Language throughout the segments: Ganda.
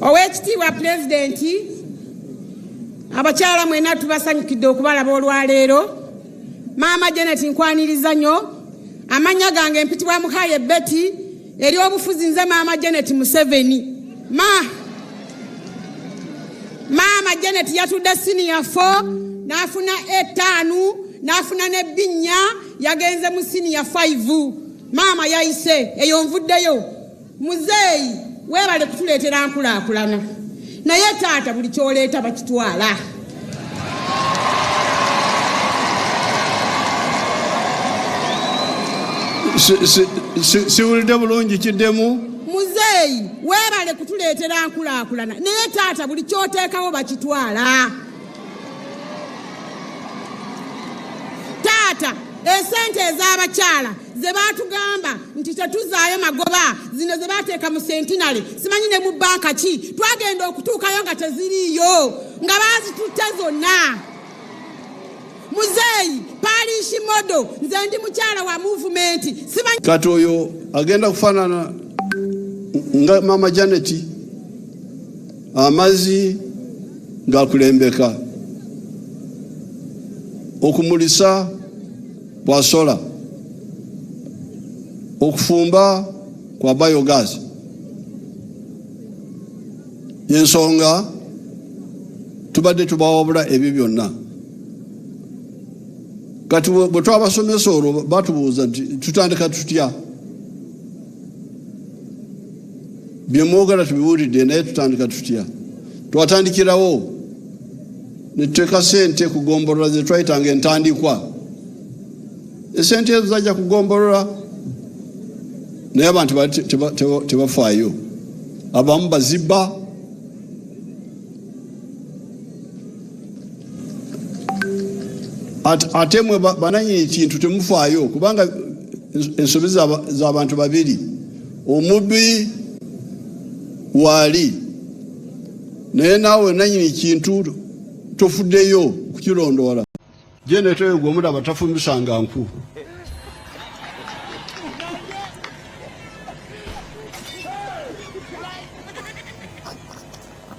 Ow'ekitiibwa Pulezidenti, abakyala mwena tubasanyukidde okubalaba olwaleero. Maama Janet nkwaniriza nnyo. Amannya gange mpitibwa Muhaye Betty eri obufuzi nze Maama Janet Museveni. Ma Maama Janet yatudde siniya fo n'afuna etaanu n'afuna ne binnya yagenze mu siniya fayivu. Maama yayise eyo nvuddeyo. Muzeeyi weebale kutuleetera nkulaakulana naye taata buli kyoleeta bakitwala. Siwulidde bulungi kiddemu. Muzeeyi weebale kutuleetera nkulaakulana naye taata buli kyoteekawo bakitwala. Taata esente ez'abakyala ze baatugamba nti tetuzaayo magoba zino ze baateeka mu sentinale simanyi ne mu banka ki twagenda okutuukayo nga teziriiyo nga baazitutte zonna muzeeyi paaliishi modo nze ndi mukyala wa muvumenti simanyi kati oyo agenda kufaanana nga maama janeti amazzi gakulembeka okumulisa bwa sola okufumba kwa biogas yensonga tubadde tubawabula ebyo byonna kati bwe twabasomesa olwo batubuuza nti tutandika tutya bye mwogala tubiwulidde naye tutandika tutya twatandikirawo netuteeka sente ku gombolola ze twayitanga entandikwa esente ezo zajja ku gombolola naye abantu tebafaayo abamu bazibba ate mwe bananyini kintu temufaayo kubanga ensobi za bantu babiri omubi waali naye naawe nanyini kintu tofuddeyo kukirondoola jeneteyo gwe omulaba tafumisanga nku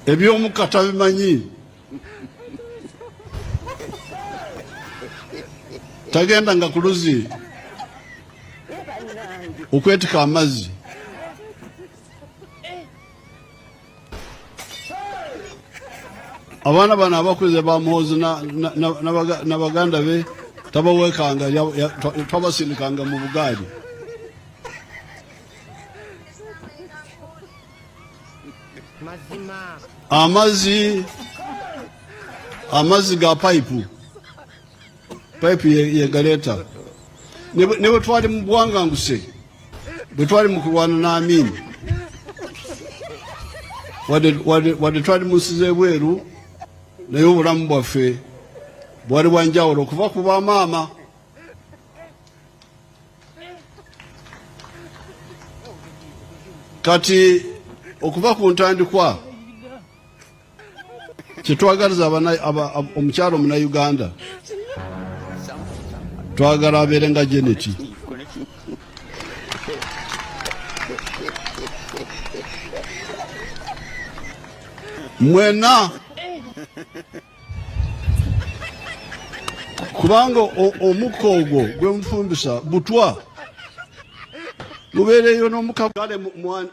ebyomukka tabimanyi tagenda nga kuluzi okwetika amazzi abaana bano abakuze bamuhozi na baganda be tabawekanga twabasindikanga mu bugaali amazzi amazzi ga payipu payipu yegaleeta ne bwe twali mu bwanganguse bwe twali mu kulwana n'amiini wadde twali mu nsi z'ebweru naye obulamu bwaffe bwali bwanjawulo okuva ku bamaama kati okuva ku ntandikwa kyetwagaliza omukyalo muna uganda twagala abeere nga jeneti mwena kubanga omukka ogwo gwe mufumbisa butwa mubeereyo n'omuka kale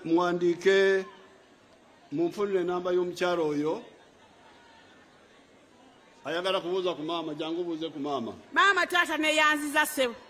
muwandiike munfunire enamba y'omukyalo oyo ayagala kubuuza ku maama jangu buuze ku maama maama taata neyanziza sebo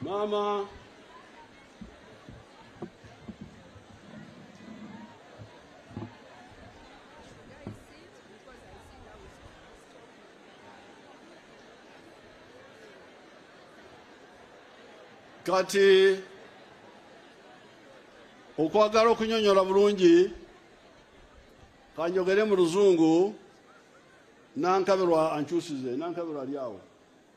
Mama. Kati okwagala okunyonyola bulungi kanjogere mu luzungu nankabirwa ankyusize nankabirwa ali awo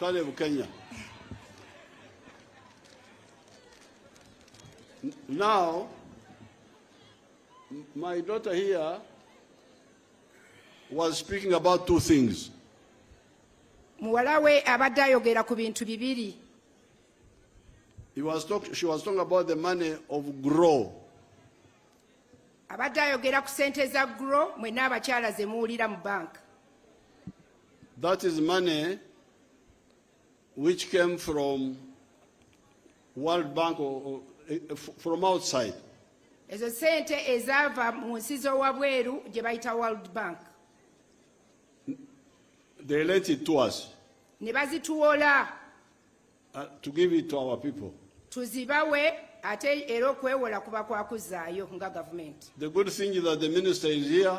kale bukenya now my daughter here was speaking about two things muwala we abadde ayogera ku bintu bibiri He was talk, she was talking about the money of grow abadde ayogera ku sente za gro mwena abakyala zemuwulira mu banka That is money which came from World Bank or, or, eh, eh, from outside. ezo sente ezaava mu nsi z'owabweru gye bayita world bank They lent it to us ne bazituwola uh, to give it to our people. tuzibawe ate era okwewola kuba kwakuzzaayo nga gavumenti The good thing is that the minister is here.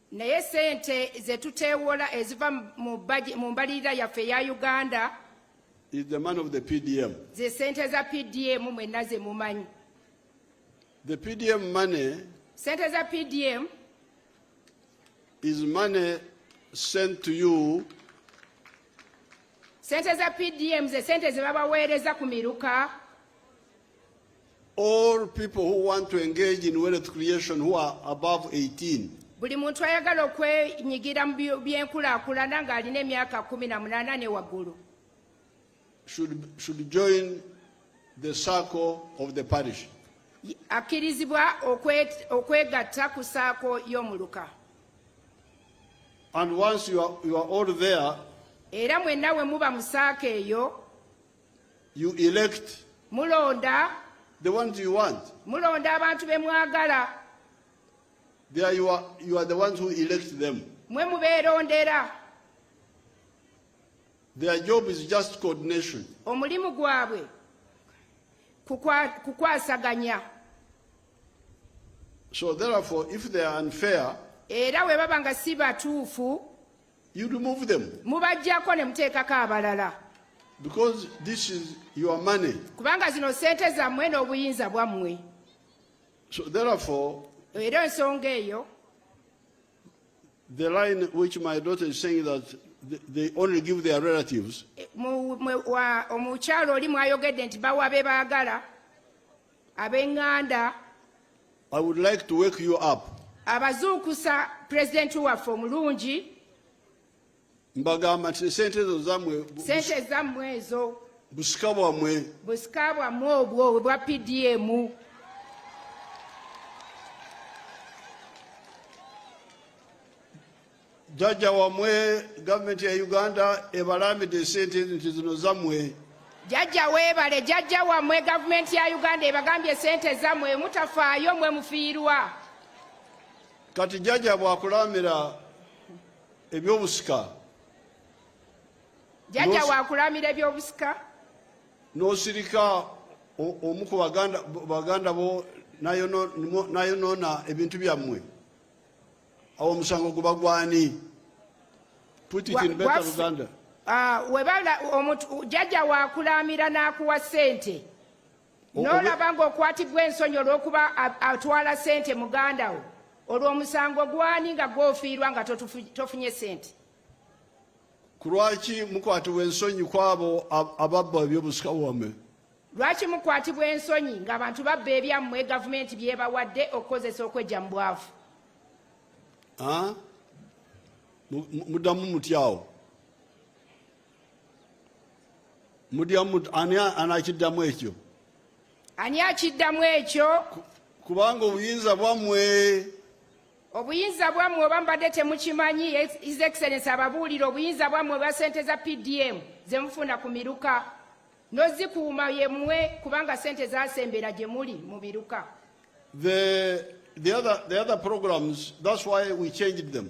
naye sente zetuteewola eziva mu mbalirira yaffe eya uganda is the man of the PDM. Ze sente za PDM mwena ze mumanyi. The PDM money. Sente za PDM. Is money sent to you. Sente za PDM ze sente ze babaweereza ku miruka. All people who want to engage in wealth creation who are above 18. Buli muntu ayagala okwenyigira mu byenkulaakulana ng'alina emyaka kumi na munaana ne waggulu. Should, should join the circle of the parish. Akkirizibwa okwegatta ku saako y'omuluka. And once you are, you are all there, era mwenna we muba mu saako eyo You elect. Mulonda. The ones you want. Mulonda abantu be mwagala. They are you are, you are the ones who elect them. Mwe mubeerondera. Their job is just coordination. Omulimu gwabwe kukwasaganya. So therefore if they are unfair era bwe baba nga si batuufu You remove them. Mubajjako ne muteekako abalala. Because this is your money. Kubanga zino sente zammwe n'obuyinza bwammwe. So therefore, era ensonga eyo the line which my daughter is saying that they only give their relatives omukyalo oli mwayogedde nti bawa be baagala abenganda i would like to wake you up abazuukusa pulezidenti waffe omulungi mbagamba nti sente ezo zamwe sente zammwe ezo busika bwamwe busika bwamwe obwo obwa pdm jajja wamwe gavumenti ya uganda ebalaamidde esente nti zino zamwe jajja webale jajja wamwe gavumenti ya uganda ebagambye esente zamwe mutafaayo mwe mufiirwa kati jajja bwakulaamira ebyobusika jajja wakulaamira ebyobusika nosirika omu ku baganda bo nayonoona ebintu byammwe awo omusango guba gwani put it in better Uganda ah, webala omuntu jajja wakulamira n'akuwa sente n'olaba ng'okwatibwa ensonyi olw'okuba atwala sente muganda wo olwo omusango gwani nga gwofiirwa nga tofunye sente kulwaki mukwatibwa ensonyi kwabo ababba ebyobusika wamme Lwaki mukwatibwa ensonyi ng'abantu babba ebyammwe gavumenti byebawadde okukozesa okwejja mu bwavu? Muddamu mutyawo mudyamu ani anakiddamu ekyo? Ani akiddamu ekyo? Kubanga obuyinza bwammwe obuyinza bwammwe oba mbadde temukimanyi his excellence ababuulire obuyinza bwammwe bwa sente za pdm zemufuna ku miruka nozikuuma yemwe kubanga sente zasembera gye muli mu biruka the, the, other, the other programs that's why we changed them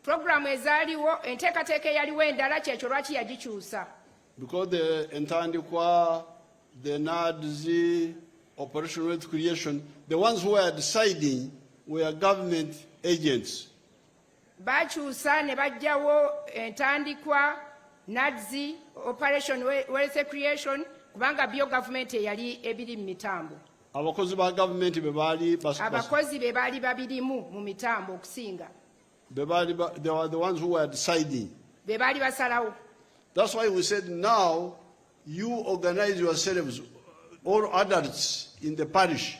programu ezaaliwo enteekateeka eyaliwo endala kyekyo lwaki yagikyusa because the entandikwa the nads operation wealth creation the ones who are deciding were government agents Baakyusa ne baggyawo entandikwa NADSI, Operation Wealth Creation, kubanga byo gavumenti eyali ebiri mu mitambo. Abakozi ba gavumenti be baali abakozi be baali babirimu mu mitambo okusinga. Be baali they were the ones who were deciding. Be baali basalawo. That's why we said now you organize yourselves all adults in the parish.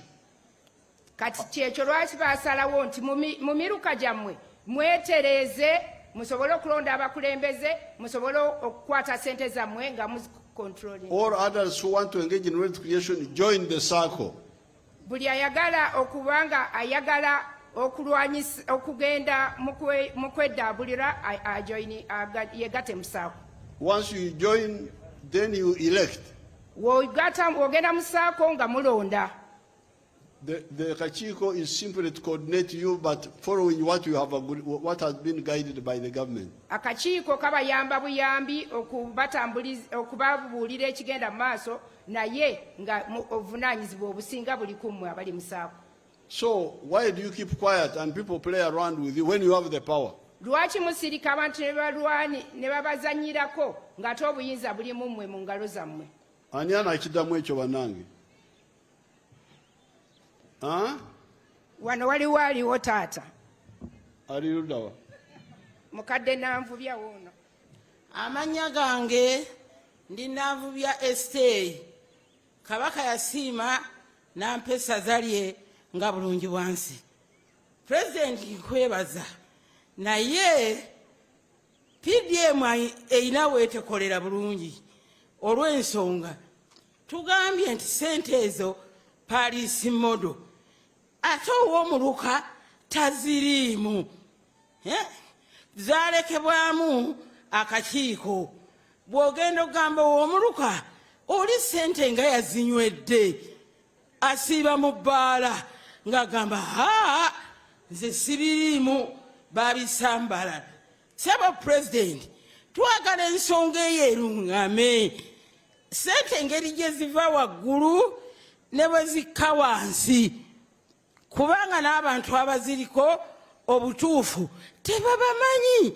kati kyekyo lwaki basalawo nti mu miruka gyammwe mwetereeze musobole okulonda abakulembeze musobole okukwata sente zammwe nga all others who want to engage in wealth creation join the circle buli ayagala okuba nga ayagala okulwanyisa okugenda mu kweddabulira ajoini yegate mu saako once you join then you elect wogenda mu saako nga mulonda The, the Kachiko is simply to coordinate you, but following what you have agreed, what has been guided by the government. Akakiiko kabayamba buyambi okubatambuliza okubabuulira ekigenda mu maaso naye nga obuvunaanyizibwa obusinga buli ku mmwe abali mu saako. So why do you keep quiet and people play around with you when you have the power? Lwaki musirika abantu ne balwani ne babazannyirako ng'ate obuyinza buli mu mmwe mu ngalo zammwe? Ani anakidamu ekyo banange? wano waliwo aliwo taata ali ludawa mukadde nanvubya woono amannya gange ndi nanvubya esiteeyi kabaka yasiima nampa essaza lye nga bulungi bwansi pulezidenti nkwebaza naye pdm erina weetekolera bulungi olw'ensonga tugambye nti sente ezo paliisi modo ate ow'omuluka taziriimu eh? zalekebwamu akakiiko bw'ogenda okugamba ow'omuluka oli sente nga yazinywedde asiiba mu bbaala ng'agamba haa nze sibiriimu babisambala Sebo president twagala ensonga eyo erungame sente engeri gye ziva waggulu ne bwe zikka wansi kubanga n'abantu abaziriko obutuufu tebabamanyi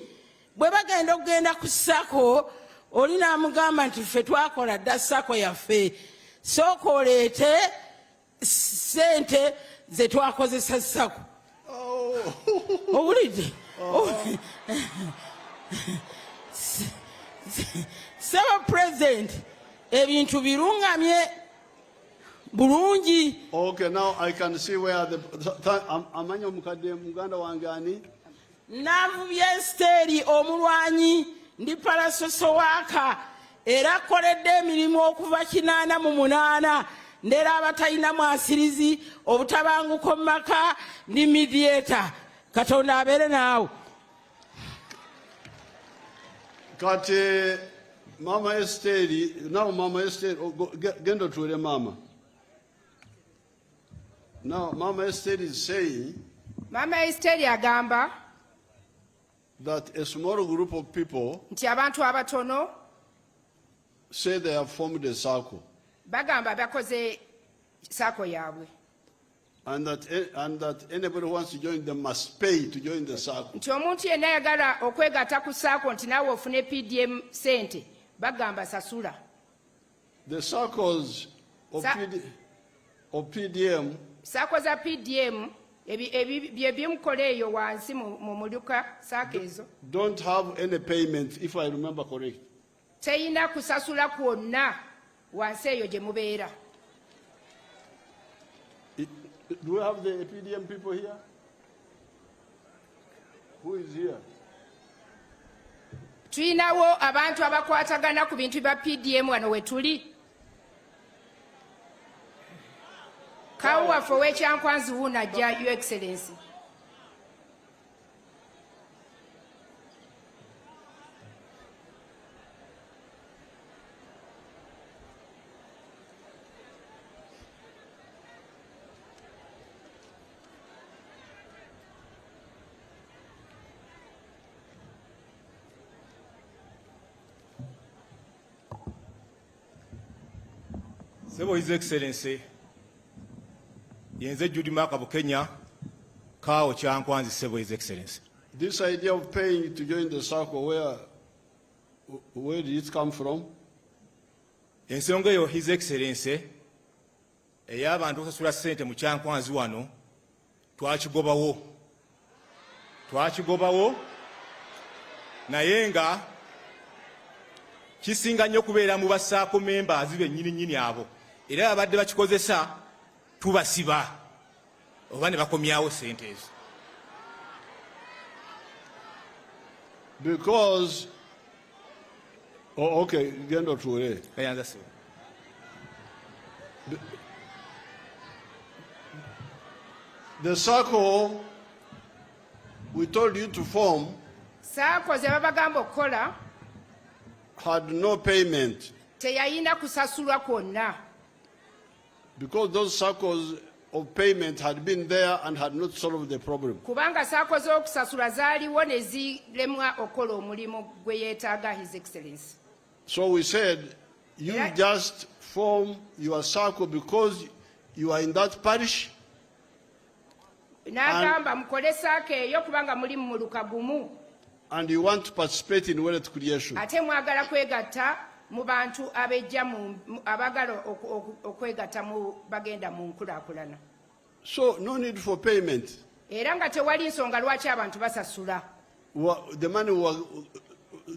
bwe bagenda okugenda ku sako oli n'amugamba nti ffe twakola dda sako yaffe sooka oleete sente zetwakozesa sako owulidde saba president ebintu birungamye bulungi okay now i can see where the amanyi omukadde muganda wange ani Navubye Esiteeri omulwanyi ndi palasosowaaka era koledde emirimu okuva kinaana mu munaana ndera abatalina mwasirizi obutabanguko mu maka ndi midieta katonda abeere naawe kati mama Esiteeri nawe mama Esiteeri genda otuule maama Now, Mama Esther is saying Mama Esther agamba that a small group of people nti abantu abatono say they have formed a circle bagamba bakoze sako yaabwe and that, eh, and that anybody who wants to join them must pay to join the circle. nti omuntu yenna ayagala okwegatta ku saako nti naawe ofune pdm sente bagamba sasula The circles of, Sa PD, of PDM. Sako za PDM byebimukola eyo wansi mu muluka saako ezo don't have any payments if i remember correct teyina kusasula kwonna wansi eyo gye mubeera do we have the pdm people here Who is here? tulinawo abantu abakwatagana ku bintu bya pdm wano wetuli kawo waffe owekyankwanzi wuuno ajja u excellency Sebo His Excellency yenze Judy Maka Bukenya kawo kyankwanzi Sebo His Excellency. This idea of paying to join the circle where where did it come from? Ensonga eyo His Excellency ey'abantu osasula ssente mu kyankwanzi wano twakigobawo twakigobawo naye nga kisinga nnyo kubeera mu basaako memba azibe nnyini nnyini abo era abadde bakikozesa tubasiba oba ne bakomyawo sente ezo because oh, okay genda otuule the circle we told you to form saako ze babagamba okukola had no payment teyayina kusasulwa kwonna Because those circles of payment had been there and had not solved the problem. Kubanga sako z'okusasula zaaliwo ne zilemwa okola omulimu gwe yeetaaga His Excellency. So we said, you yeah. just form your circle because you are in that parish n'agamba mukole saaka eyo kubanga muli mu muluka gumu and you want to participate in wealth creation ate mwagala kwegatta mu bantu abejja abagala okwegatta mu bagenda mu nkulakulana so no need for payment era nga tewali nsonga lwaki abantu basasula the money we were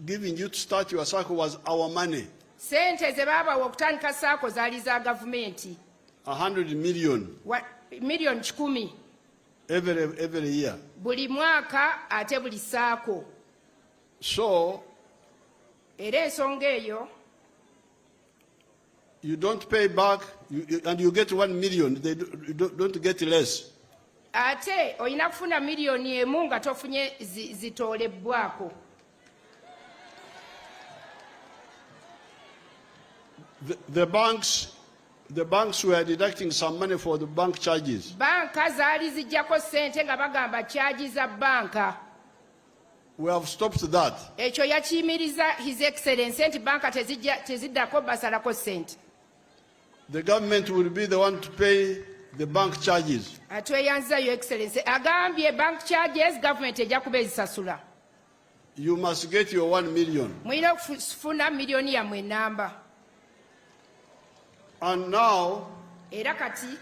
giving you to start your circle was our money sente ze baabawa okutandika saako zaali za gavumenti 100 million. Wa, million kikumi. Every, every year. Buli mwaka ate buli saako. So. Era ensonga eyo. You don't pay back you, you, and you get 1 million. They do, you don't, don't get less. Ate olina kufuna million emu nga tofunye zitolebbwako. Zi The, the banks the banks were deducting some money for the bank charges. Banka zaali zijjako sente nga bagamba charge za banka. We have stopped that. Ekyo yakiyimiriza His Excellency nti banka teziddako basalako sente. The government will be the one to pay the bank charges. Atweyanza Your Excellency agambye bank charges government ejja kuba ezisasula. You must get your one million. Mulina kufuna millioni yammwe enamba. And now, era kati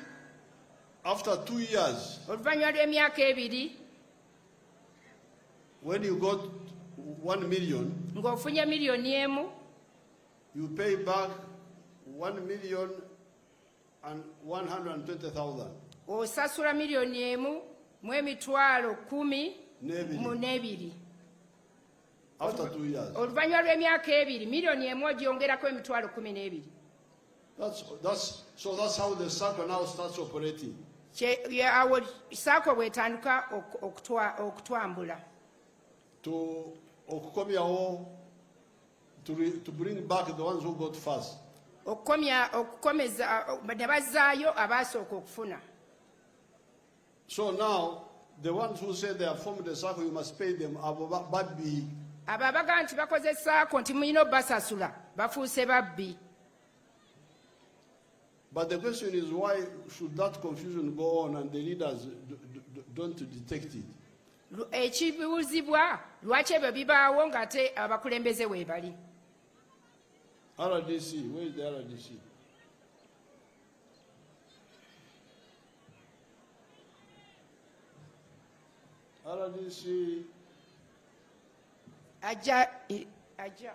after two years, oluvannyuma lw'emyaka ebiri when you got one million, ng'ofunye millioni emu you pay back one million osasula miliyoni emu mu emitwalo kumi mu n'ebiri oluvannyuma lw'emyaka ebiri miliyoni emu ogyongerako emitwalo kumi n'ebiri awo saako bwetandika okutwambula okukomyawo To, re, to bring back the ones who got first. okukomya okukomeza ne bazzaayo abaasooka okufuna so now the ones who say they have formed a circle you must pay them abo babbi abo abaga nti bakoze saako nti mulina obasasula bafuuse babbi But the question is why should that confusion go on and the leaders don't detect it? ekibuuzibwa lwaki ebyo bibaawo ng'ate abakulembeze weebali rdc where is the rdc rdc ajja ajja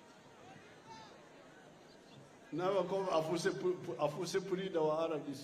Nawe kwa afuse afuse pulida wa RDC.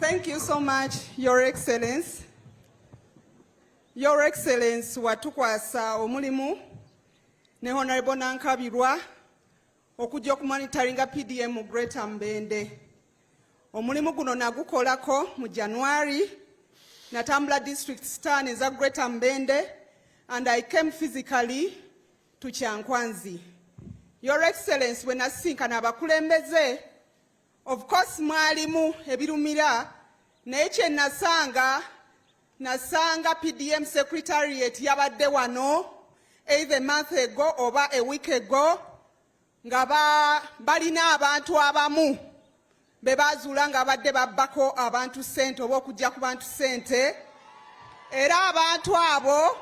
Thank you so much, Your Excellency. Your Excellency watukwasa omulimu ne Honorable Nankabirwa okujja okumonitaringa PDM mu Greater Mbende. Omulimu guno nagukolako mu January natambula district star neza Greater Mbende and I came physically to Kyankwanzi. Your Excellency bwe nasisinkana abakulembeze of course mwalimu ebirumira naye kye nasanga Nasanga PDM Secretariat yabadde wano either a month ago oba a week ago nga balina abantu abamu be baazuula nga badde babbako abantu ssente oba okujja ku bantu ssente era abantu abo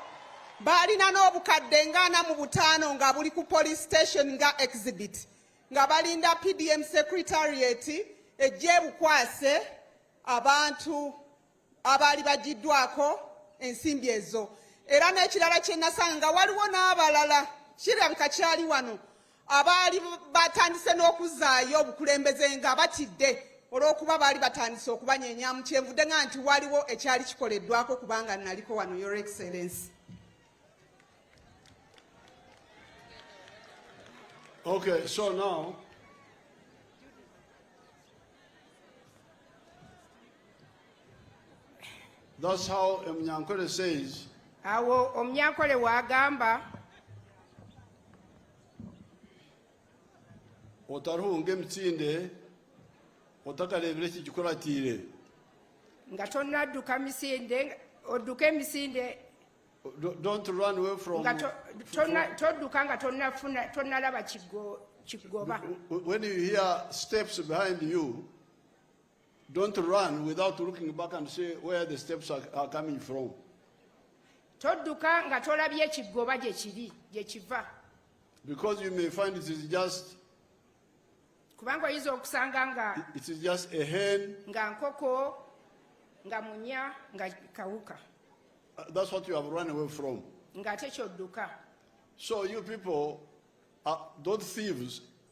baalina n'obukadde ngaana mu butaano nga buli ku police station nga exhibit nga balinda pdm secretariat ejja ebukwase abantu abaali bagiddwako ensimbi ezo era n'ekirala kye nasanga nga waliwo n'abalala kirabika kyali wano abaali batandise n'okuzaayo obukulembeze nga batidde olw'okuba baali batandise okubanyenyamu kyenvudde nga nti waliwo ekyali kikoleddwako kubanga naliko wano your excellence okay so now That's how Mnyankole says. Awo Omnyankole wagamba. Otarunge mtinde otakarebere ki gikoratire. Nga tonadduka misinde odduke misinde Don't run away from nga todduka nga tonafuna tonalaba kigoba. When you hear steps behind you Don't run without looking back and see where the steps are, are coming from. Todduka nga tolabye ekigoba gye kiri gye kiva. Because you may find it is just kubanga oyinza okusanga nga it is just a hen nga nkoko nga munya nga kawuka. Uh, that's what you have run away from. Nga ate kyodduka. So you people, uh, those thieves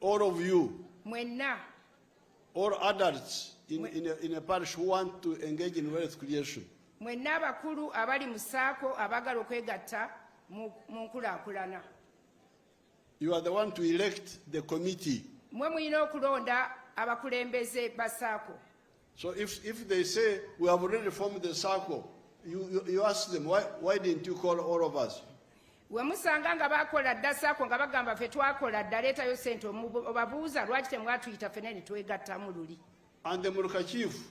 All of you. Mwenna. All adults in, Mwen... in, a, in a parish who want to engage in wealth creation. Mwenna abakulu abali mu saako abagala okwegatta mu nkulaakulana. You are the one to elect the committee. Mwe mulina okulonda abakulembeze ba saako. So if, if they say we have already formed the circle, you, you, you ask them, why, why didn't you call all of us? wemusanga nga bakola dda saako nga bagamba fe twakola dda leetayo sente obabuuza lwaki temwatuyita fena ne twegattamu luli and the muluka chief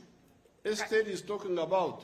estate is talking about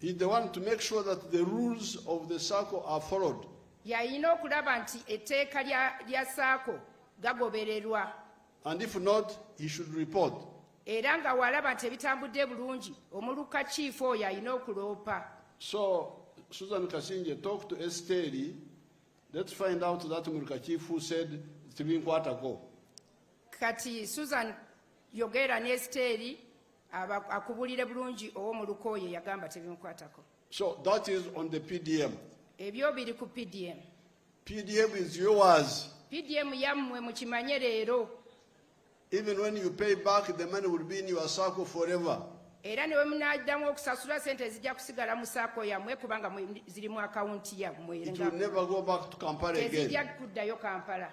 He's the one to make sure that the rules of the circle are followed. Yayina okulaba nti etteeka lya saako gagobererwa. And if not, he should report. Era nga walaba nti ebitambudde bulungi, omuluka chief oyo alina okuloopa. So, Susan Kasinje, talk to Esteri. Let's find out that Muluka chief who said tibinkwatako. Kati Susan yogera ne Esteri akubulire bulungi owo mu lukooye yagamba tebimukwatako so that is on the pdm ebyo biri ku pdm pdm is yours pdm yammwe mukimanye leero even when you pay back the money will be in your circle forever era ne bwe munaddamu okusasula sente zijja kusigala mu saako yammwe kubanga ziri mu akawunti yammwe tezijja kuddayo kampala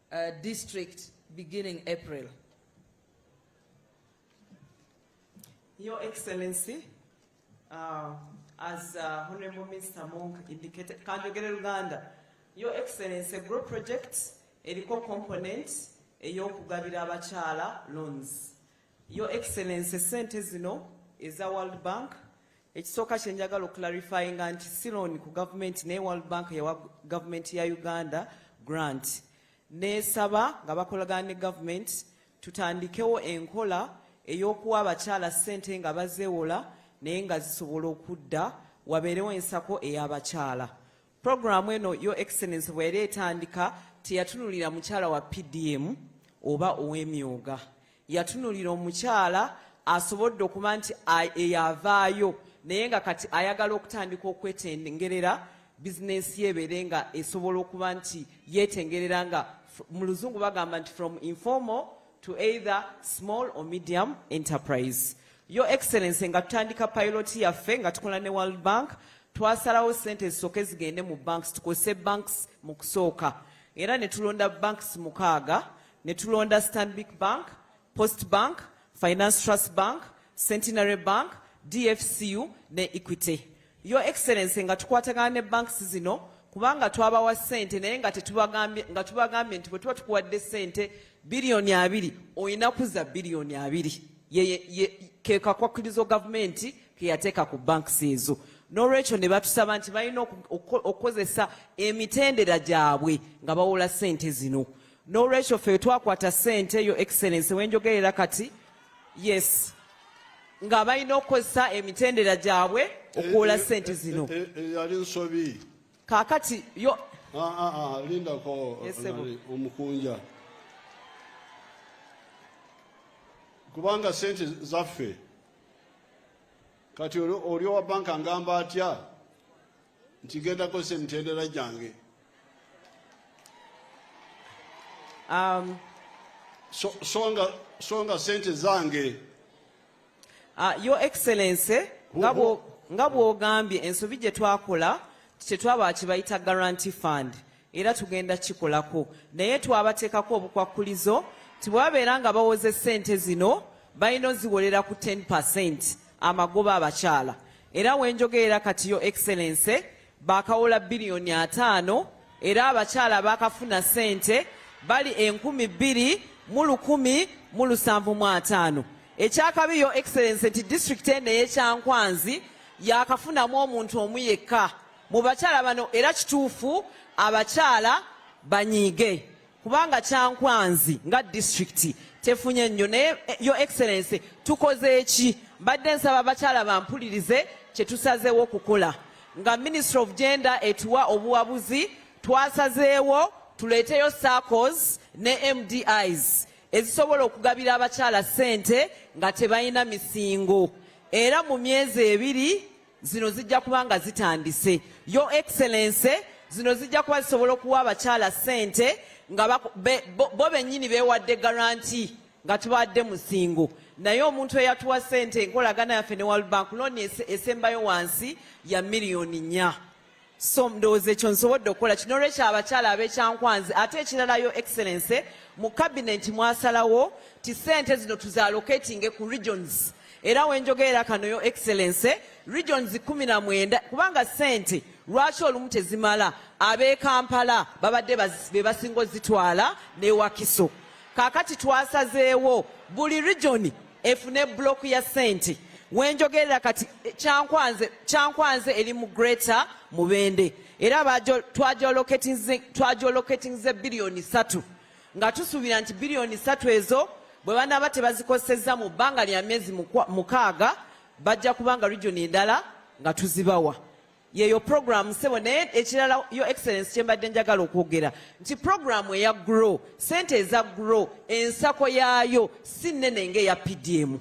uh, district beginning April. Your Excellency, uh, as uh, Honorable Minister Monk indicated, Kanjogere Uganda, Your Excellency, group project eriko component ey'okugabira abakyala loans. Your Excellency, sente zino eza World Bank ekisooka kye njagala okularifyinga nti si looni ku gavumenti naye World Bank yawa gavumenti ya Uganda grant neesaba nga bakolagana ne gavumenti tutandikewo enkola ey'okuwa abakyala ssente nga bazeewola naye nga zisobola okudda wabeerewo ensako ey'abakyala Programu eno Your Excellency bweyali etandika teyatunulira mukyala wa PDM oba ow'emyooga yatunulira omukyala asobodde okuba nti eyavaayo naye nga kati ayagala okutandika okwetengerera bizinensi ye ebeere nga esobola okuba nti yeetengerera nga mu luzungu bagamba nti from informal to either small or medium enterprise Your Excellency nga tutandika pilot yaffe nga tukola ne World Bank twasalawo sente ezisooke zigende mu banks tukozese banks mu kusooka era ne tulonda banks mukaaga ne tulonda Stanbic Bank, Post Bank, Finance Trust Bank, Centenary Bank, DFCU ne Equity. Your Excellency nga tukwatagana ne banks zino kubanga twabawa sente naye nga tetubagambye nga tubagambye nti bwe tuba tukuwadde sente biliyoni abiri olina kuza biliyoni abiri kekakwakirizo gavumenti keyateeka ku banks ezo n'olwekyo ne batusaba nti balina okukozesa emitendera gyabwe nga bawola sente zino n'olwekyo ffe twakwata sente yo excellence wenjogerera kati yes nga balina okukozesa emitendera gyabwe okuwola eh, eh, sente eh, zino eyali nsobi kakati yo ah, ah, ah, lindako omukunja kubanga sente zaffe kati oli owa banka ngamba atya nti ngenda kozesa emitendera gyange um, so, songa, songa sente zange uh, your excellency nga bw'ogambye ensobi gye twakola tetwaba kibayita guarantee fund era tugenda kikolako naye twabateekako obukwakkulizo nti bwabeera nga bawoze ssente zino balina oziwolera ku 10 percent amagoba abakyala era wenjogeera kati yo excellence bakawola biliyoni ataano era abakyala bakafuna sente bali enkumi bbiri mu lukumi mu lusanvu mu ataano ekyakabi yo excellence nti disitulikiti eno eyekyankwanzi yakafunamu omuntu omu yekka mu bakyala bano era kituufu abakyala banyiige kubanga kyankwanzi nga disitulikiti tefunye nnyo naye eh, yo excellence tukoze eki mbadde nsaba abakyala bampulirize kye tusazeewo okukola nga ministry of gender etuwa obuwabuzi twasazeewo tuleeteyo circles ne mdis ezisobola okugabira abakyala ssente nga tebalina misingo era mu myezi ebiri zino zijja kuba nga zitandise yo excellence zino zijja kuba zisobola okuwa abakyala sente nga bo bennyini beewadde garanti nga tubadde musingo naye omuntu eyatuwa sente enkolagana yaffe ne world bank looni esembayo wansi ya miliyoni nnya so ndowooza ekyo nsobodde okukola kino olwekyo abakyala abekyankwanzi ate ekirala yo excellence mu kabineti mwasalawo ti sente zino tuzalocatinge ku regions era wenjogerera kano yo excellence regions kumi na mwenda kubanga sente lwaki olumu tezimala abekampala babadde bebasinga ozitwala newakiso kakati twasazeewo buli regioni efune block ya sente wenjogerera kati eh, kyankwanze kyankwanze eri mu greater mubende era twajoloketinze biliyoni satu nga tusuubira nti biliyoni satu ezo bwe banaaba tebazikozesezza mu bbanga lya myezi mukaaga bajja kubanga region endala nga tuzibawa yeyo program sebo naye ekirala yo excellence kyembadde njagala okwogera nti program eya grow sente eza grow ensako yaayo si nnene ngaeya pdm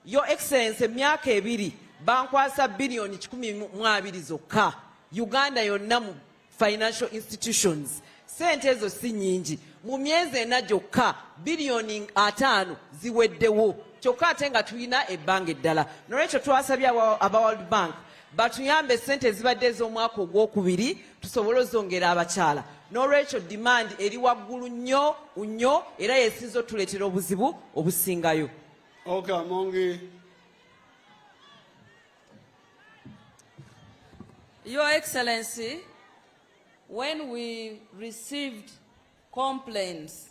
yo excellence emyaka ebiri bankwasa biliyoni kikumi mu abiri zokka uganda yonna mu financial institutions sente ezo si nyingi mu myezi ena gyokka biliyoni ataano ziweddewo kyokka ate nga tulina ebbanga eddala nolwekyo twasabye aba world bank batuyambe sente ezibadde ez'omwaka ogwokubiri tusobole ozongera abakyala n'olwekyo demand eri waggulu nnyo nnyo era yesinza otuleetera obuzibu obusingayo okay, mongi your excellency when we received complaints